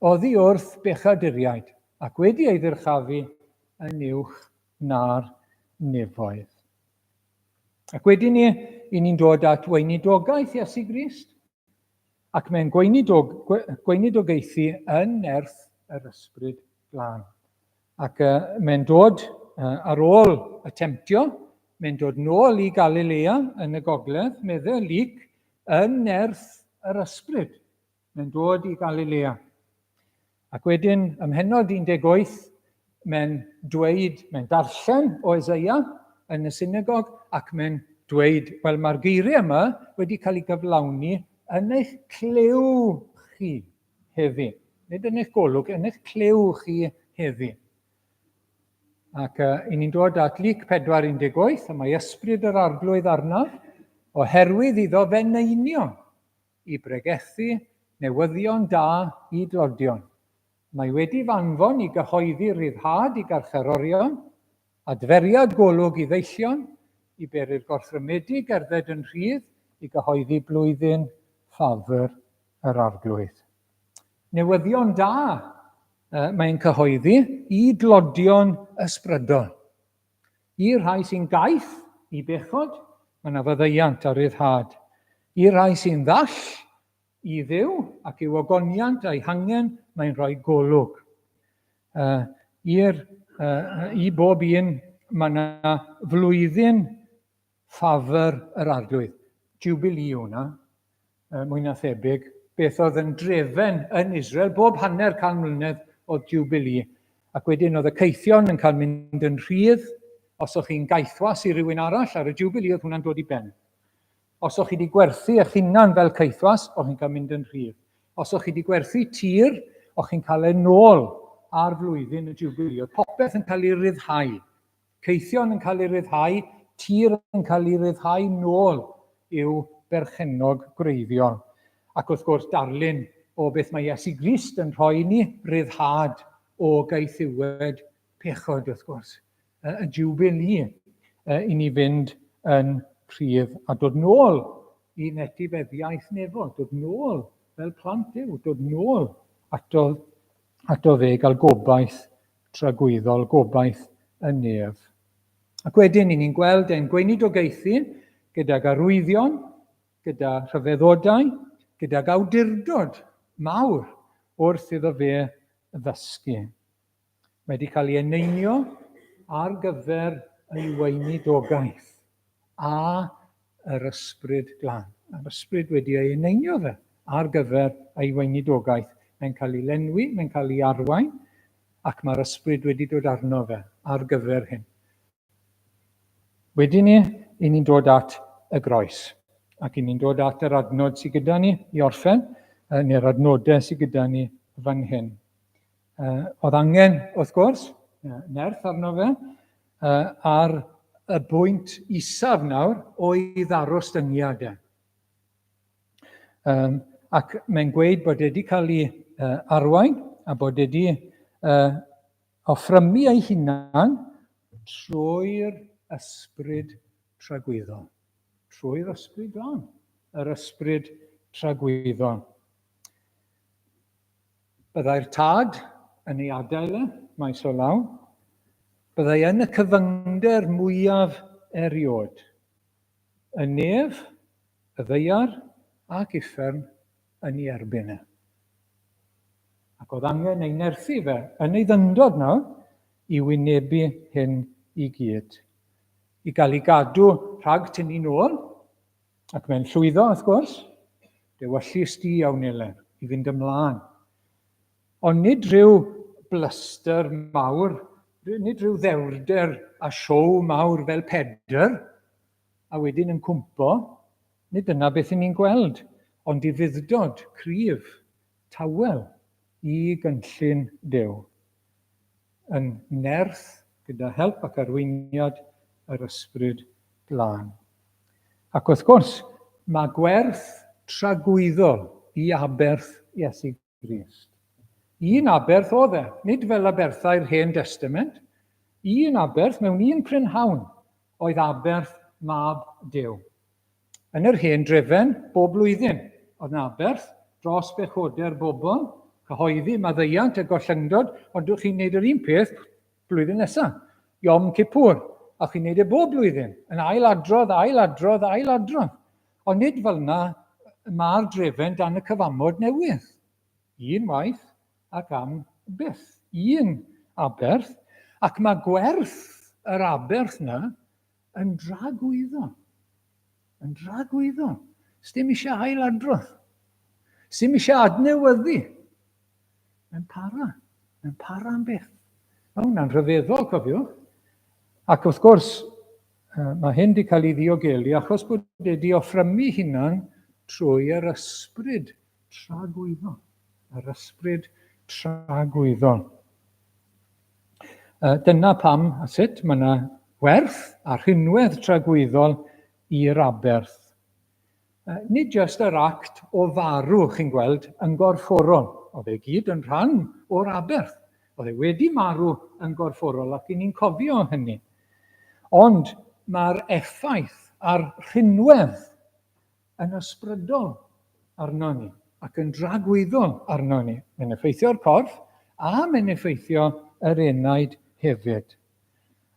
oddi wrth bechaduriaid, ac wedi ei ddyrchafu yn uwch na'r nefoedd. Ac wedyn ni, i ni'n dod at weinidogaeth Iesu Grist. Ac mae'n gweinidog, gweinidogaethu yn nerth yr ysbryd glân. Ac uh, mae'n dod uh, ar ôl y temtio, mae'n dod nôl i Galilea yn y gogledd, meddwl Lyc, yn nerth yr ysbryd. Mae'n dod i Galilea. Ac wedyn, ym mhennod 18, mae'n dweud, mae'n darllen o Eseia yn y synagog, ac mae'n dweud, wel, mae'r geiriau yma wedi cael eu cyflawni yn eich clyw chi heddi. Nid yn eich golwg, yn eich clyw chi heddi. Ac uh, i ni'n dod at Luc 4.18, y mae ysbryd yr arglwydd arnaf, oherwydd iddo fe neinio i bregethu newyddion da i dlodion. Mae wedi f'anfon i gyhoeddi rhyddhad i garcharorion, adferiad golwg i ddeillion, i bery'r gorthrymedig gerdded yn rhydd, i gyhoeddi blwyddyn ffafr yr Arglwydd. Newyddion da mae'n cyhoeddi i dlodion ysbrydol. I'r rhai sy'n gaeth i bechod, mae 'na faddeuant a ryddhad. I'r rhai sy'n ddall i Dduw ac i'w ogoniant a'i hangen, mae'n rhoi golwg. Uh, i'r, uh, I bob un, mae 'na flwyddyn ffafr yr arglwydd. Jubilee yw hwnna. uh, mwy na thebyg, beth oedd yn drefen yn Israel bob hanner can mlynedd o Jubilee. Ac wedyn oedd y ceithion yn cael mynd yn rhydd, os o'ch chi'n gaethwas i rywun arall ar y Jubilee, oedd hwnna'n dod i ben. Os o'ch chi wedi gwerthu eich hunan fel ceithwas, o'ch chi'n cael mynd yn rhydd. Os o'ch chi wedi gwerthu tir, o'ch chi'n cael ei nôl ar flwyddyn y Jubilee. Oedd popeth yn cael ei ryddhau. Cyson yn cael ei ryddhau, tir yn cael ei ryddhau nôl i'w berchennog gwreiddiol. Ac wrth gwrs, darlun o beth mae Iesu Grist yn rhoi i ni, ryddhad o gaethiwed pechod, wrth gwrs. Y Jubilee i ni fynd yn rhydd a dod nôl i'n etifeddiaeth nefol, dod nôl fel plant Duw, dod nôl ato, ato fe, gael gobaith tragwyddol gobaith y nef. Ac wedyn, i ni'n gweld ein gweinidogaethu gydag arwyddion, gyda rhyfeddodau, gydag awdurdod mawr wrth iddo fe ddysgu. Mae wedi cael ei eneinio ar gyfer ei weinidogaeth. a yr Ysbryd Glân. Mae'r Ysbryd wedi ei eneinio fe ar gyfer ei weinidogaeth. Mae'n cael ei lenwi, mae'n cael ei arwain, ac mae'r Ysbryd wedi dod arno fe ar gyfer hyn. Wedyn ni, i ni'n dod at y groes, ac i ni'n dod at yr adnod sydd gyda ni i orffen, neu'r adnodau sydd gyda ni fan hyn. Uh, oedd angen, wrth gwrs, nerth arno fe, uh, a'r y bwynt isaf nawr oedd aros dyngiad e. Um, ac mae'n gweud bod wedi cael ei uh, arwain a bod wedi uh, offrymu ei hunan trwy'r ysbryd tragwyddol. Trwy'r ysbryd glân, yr ysbryd tragwyddol. Byddai'r tad yn ei adael e, maes o law. Byddai yn y cyfyngder mwyaf erioed. Y nef, y ddaear ac uffern yn ei erbyn e. Ac oedd angen ei nerthu fe yn ei ddyndod nawr i wynebu hyn i gyd. I gael ei gadw rhag tynnu nôl, Ac mae'n llwyddo, wrth gwrs. Dewyllys di iawn, Nele, i fynd ymlaen. Ond nid rhyw blyster mawr, nid rhyw ddewrder a siow mawr fel pedr, a wedyn yn cwmpo, nid dyna beth i ni'n gweld, ond i fuddod cryf, tawel, i gynllun Duw. yn nerth gyda help ac arweiniad yr Ysbryd Glân. Ac wrth gwrs, mae gwerth tragwyddol i aberth Iesu Grist. Un aberth oedd e, nid fel aberthau'r Hen Destament, un aberth mewn un prynhawn oedd aberth Mab Duw. Yn yr hen drefen, bob blwyddyn, oedd 'na aberth dros bechodau'r bobl, cyhoeddi maddeuant a gollyngdod, ond dych chi'n neud yr un peth blwyddyn nesa, Yom Kippur, a chi'n neud e bob blwyddyn, yn ail adrodd, ail adrodd, ail adrodd. Ond nid fel yna mae'r drefen dan y cyfamod newydd. Un waith ac am byth. Un aberth. Ac mae gwerth yr aberth yna Yn dra gwyddon. Yn dra gwyddon. Sdim eisiau ail adrodd. Sdim eisiau adnewyddu. Mae'n para. Mae'n para am beth. Mae hwnna'n rhyfeddol, cofiwch. Ac wrth gwrs, mae hyn wedi cael ei ddiogelu achos bod wedi offrymu hunan trwy yr ysbryd tragwyddon. Yr ysbryd tragwyddon. Dyna pam a sut mae yna werth a rhinwedd tragwyddol i'r aberth. Nid jyst yr act o farw, chi'n gweld, yn gorfforol. Oedd e gyd yn rhan o'r aberth. Oedd e wedi marw yn gorfforol ac i ni'n cofio hynny. Ond mae'r effaith a'r rhinwedd yn ysbrydol arnon ni ac yn dragwyddol arnon ni. Mae'n effeithio'r corff a mae'n effeithio yr enaid hefyd.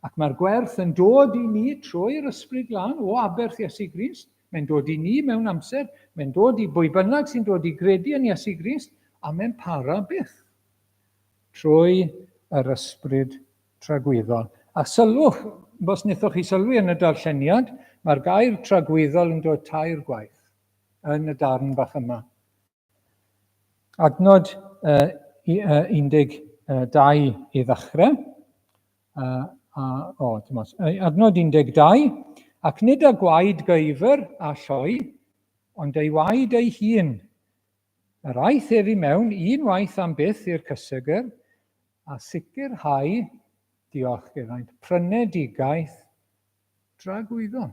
Ac mae'r gwerth yn dod i ni trwy'r ysbryd glân o aberth Iesu Grist. Mae'n dod i ni mewn amser, mae'n dod i bwy bynnag sy'n dod i gredu yn Iesu Grist, a mae'n para byth. Trwy yr ysbryd tragwyddol. A sylwch, os wnaethoch chi sylwi yn y darlleniad, mae'r gair tragwyddol yn dod tair gwaith yn y darn bach yma. Adnod uh, 12 i ddechrau, uh, a, o, dim os, adnod 12, ac nid a gwaed gyfer a lloi, ond ei waed ei hun, Yr aeth ef i mewn unwaith am byth i'r cysegr a sicrhau, diolch iddaint, prynedigaeth dragwyddon.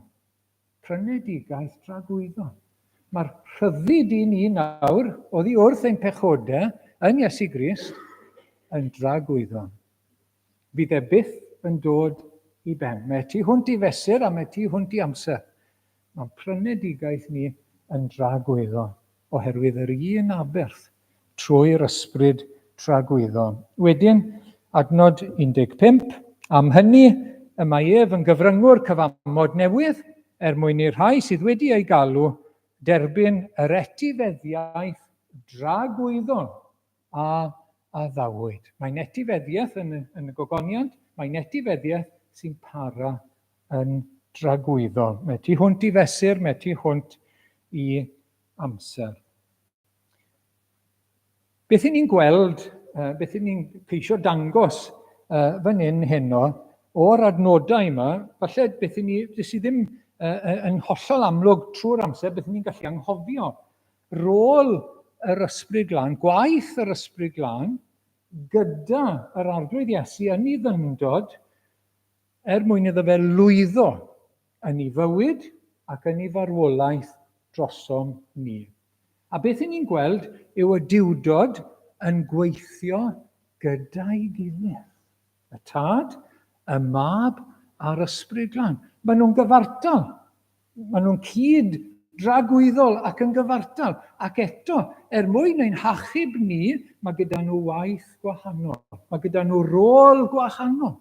Prynedigaeth dragwyddon. Mae'r rhyddid i ni nawr, oddi wrth ein pechodau yn Iesu Grist, yn dragwyddon. Fydd e byth yn dod i ben. Mae tu hwnt i fesur a mae tu hwnt i amser. Mae'n prynedigaeth ni yn dragwyddon, oherwydd yr un aberth, trwy'r ysbryd tragwyddon. Wedyn, adnod 15, Am hynny, y mae ef yn gyfryngwr cyfamod newydd, er mwyn i'r rhai sydd wedi ei galw derbyn yr etifeddiaeth dragwyddon a addawyd. Mae'n etifeddiaeth yn y, yn y gogoniant, mae'n etifeddiaeth sy'n para yn dragwyddol. Mae tu hwnt i fesur, mae tu hwnt i amser. Beth i ni'n gweld, uh, beth i ni'n ceisio dangos uh, fan hyn heno, o'r adnodau yma, falle beth i ni, beth i ddim uh, yn hollol amlwg trwy'r amser, beth i ni'n gallu anghofio. rôl yr Ysbryd Glân, gwaith yr Ysbryd Glân, gyda yr Arglwydd Iesu yn ei ddyngdod, er mwyn iddo fe lwyddo yn ei fywyd ac yn ei farwolaeth drosom ni. A beth i ni'n gweld yw y diwdod yn gweithio gyda'i gilydd. Y Tad, y Mab a'r Ysbryd Glân. Maen nhw'n gyfartal. Maen nhw'n cyd dragwyddol ac yn gyfartal. Ac eto, er mwyn ein hachub ni, mae gyda nhw waith gwahanol. Mae gyda nhw rôl gwahanol.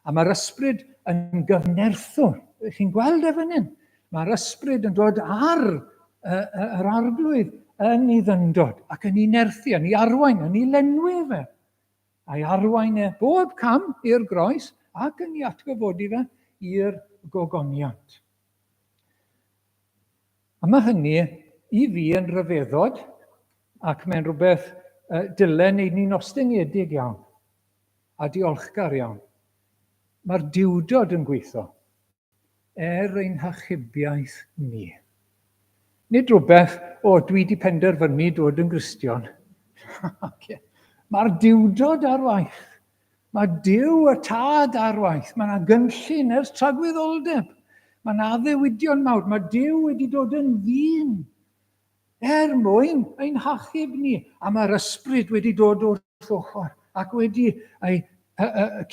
A mae'r ysbryd yn gyfnerthwr. Chi'n gweld e fan hyn? Mae'r ysbryd yn dod ar yr arglwydd yn ei ddyndod ac yn ei nerthu, yn ei arwain, yn ei lenwi fe. A'i arwain e bob cam i'r groes ac yn ei atgyfodi fe i'r gogoniant. A mae hynny i fi yn rhyfeddod ac mae'n rhywbeth uh, dylen wneud ni'n ostyngedig iawn a diolchgar iawn. Mae'r diwdod yn gweithio. er ein hachubiaeth ni. Nid rhywbeth, o, dwi wedi penderfynu dod yn Gristion. Mae'r diwdod ar waith. Mae Dyw y Tad ar waith. Mae yna gynllun ers tragwyddoldeb. Mae yna addewidion mawr. Mae Dyw wedi dod yn ddyn. Er mwyn ein hachub ni, a mae'r ysbryd wedi dod wrth ochr ac wedi ei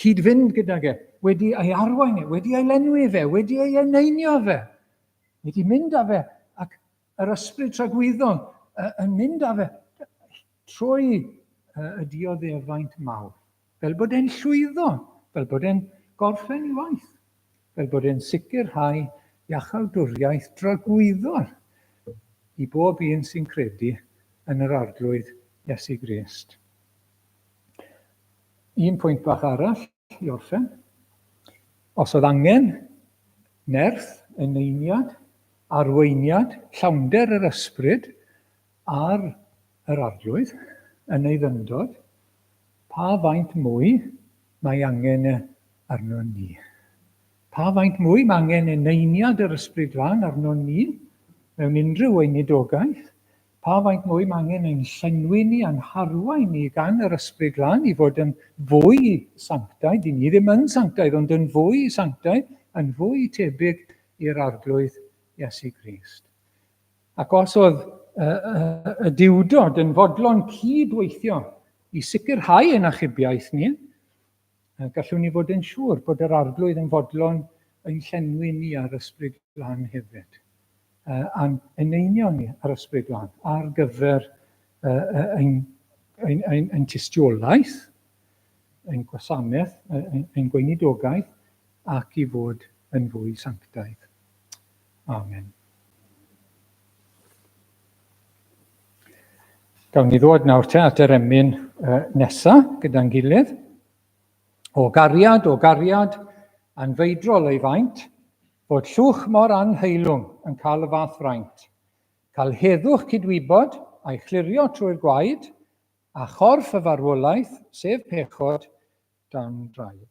cyd-fynd gydag e, wedi ei arwain e, wedi ei lenwi fe, wedi ei eneinio fe, wedi mynd â fe ac yr ysbryd tragwyddol yn mynd â fe. Trwy y dioddefaint mawr, fel bod e'n llwyddo, fel bod e'n gorffen ei waith, fel bod e'n sicrhau iachawdwriaeth dragwyddol i bob un sy'n credu yn yr Arglwydd Iesu Grist. Un pwynt bach arall i orffen. Os oedd angen nerth, eneiniad, arweiniad, llawnder yr ysbryd, Ar yr Arglwydd yn ei ddyfndod, pa faint mwy mae angen arnon ni? Pa faint mwy mae angen eneiniad yr Ysbryd Glân arnon ni mewn unrhyw weinidogaeth? Pa faint mwy mae angen ein llenwi ni a'n harwain ni gan yr Ysbryd Glân i fod yn fwy sanctaidd, i ni ddim yn sanctaidd ond yn fwy sanctaidd, yn fwy tebyg i'r Arglwydd Iesu Grist? Ac os oedd y diwdod yn fodlon cyd-weithio i sicrhau ein achubiaeth ni, gallwn ni fod yn siŵr bod yr Arglwydd yn fodlon ein llenwi ni a'r Ysbryd Glân hefyd, a'n eneinio ni a'r Ysbryd Glân ar gyfer ein, ein, ein, ein tystiolaeth, ein gwasanaeth, ein, ein gweinidogaeth, ac i fod yn fwy sanctaidd. Amen. Gawn ni ddod nawr te at yr emyn uh, nesa gyda'n gilydd. O gariad, o gariad, anfeidrol ei faint, bod llwch mor anheilwng yn cael y fath fraint. Cael heddwch cydwybod a'i chlirio trwy'r gwaed, a chorff y farwolaeth, sef pechod, dan draed.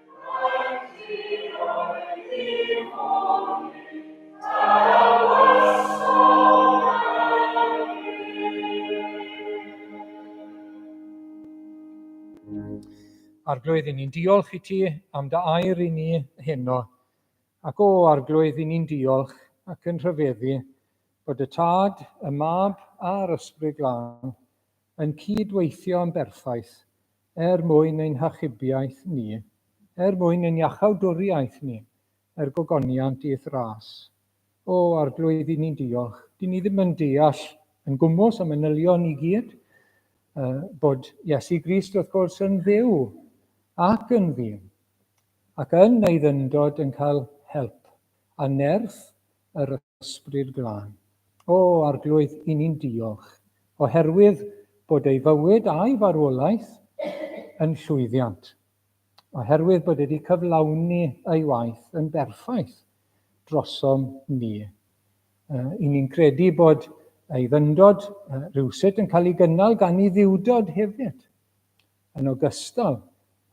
Arglwydd, i ni'n diolch i ti am dy air i ni heno. Ac o, Arglwydd, i ni'n diolch ac yn rhyfeddu bod y Tad, y Mab a'r Ysbryd Glân yn cydweithio yn berffaith er mwyn ein hachubiaeth ni, er mwyn ein iachawdwriaeth ni, er gogoniant i'th ras. O, Arglwydd, i ni'n diolch. Dyn ni ddim yn deall yn gwmws am manylion i gyd, uh, bod Iesu Grist, wrth gwrs, yn ddew ac yn ddyn, ac yn ei ddyndod yn cael help a nerth yr Ysbryd Glân. O, Arglwydd, i ni'n diolch, oherwydd bod ei fywyd a'i farwolaeth yn llwyddiant, oherwydd bod wedi cyflawni ei waith yn berffaith drosom ni. I ni'n credu bod ei fyndod rhywsut yn cael ei gynnal gan ei ddiwdod hefyd. yn ogystal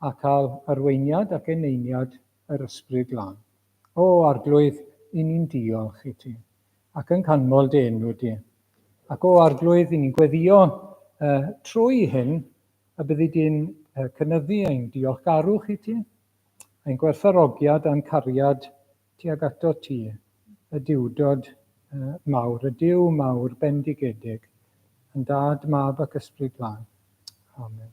â cael arweiniad ac eneiniad yr Ysbryd Glân. O, Arglwydd, i ni'n diolch i ti, ac yn canmol dy enw di. Ac o, Arglwydd, i ni'n gweddio uh, trwy hyn, a byddi di'n uh, cynyddu ein diolchgarwch i ti, ein gwerthfarogiad a'n cariad Tuag atot ti, y Duwdod mawr, y Duw mawr bendigedig, yn Dad, Mab ac Ysbryd Glân. Amen.